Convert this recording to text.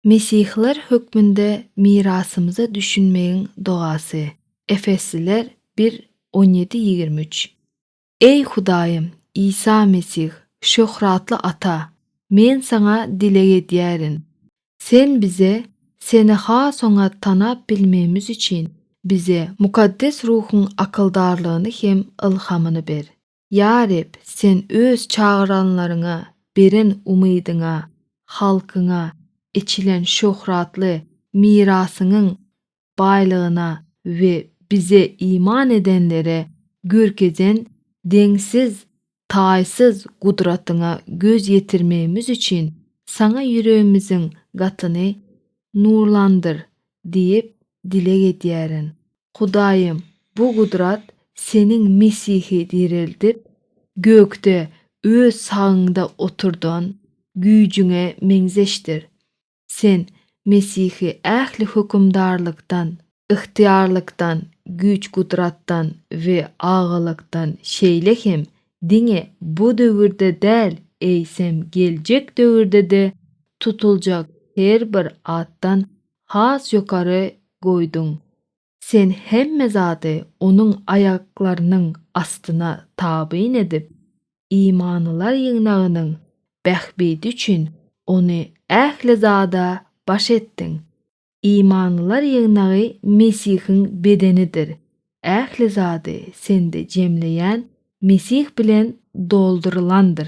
Mesihler hökmünde mirasymyza düşünmegiň dogasy. Efesliler bir, on ýedi, ýigrimi üç. Eý Hudaýym, Isa Mesih, şöhratly Ata, men Saňa dileg edýärin. Sen bize, Seni has oňat tanap bilmegimiz üçin, bize Mukaddes Ruhuň akyldarlygyny hem ylhamyny ber. Ýa Reb, Sen Öz çagyranlaryňa beren umydyňa, halkyňa eçilen şöhratly mirasyňyň baýlygyna we Bize iman edenlere görkezen deňsiz, taýsyz gudratyňa göz ýetirmegimiz üçin Saňa ýüregimiziň gatyny nurlandyr diýip dileg edýärin. Hudaýym, bu gudrat Seniň Mesihi direldip, gökde Öz sagyňda oturdan güýjüňe meňzeşdir. Sen Mesihi ähli hökümdarlykdan, ygtyýarlykdan, güýç-gudratdan we agylykdan şeýle hem diňe bu döwürde däl, eýsem geljek döwürde-de tutuljak her bir atdan has ýokary goýduň. Sen hemme zady Onuň aýaklarynyň astyna tabyn edip, imanlylar ýygnagynyň bähbidi üçin Ony ähli zada baş etdiň. Imanlylar ýygnagy Mesihiň bedenidir. Ähli zady sende jemleýän Mesih bilen doldurylandyr.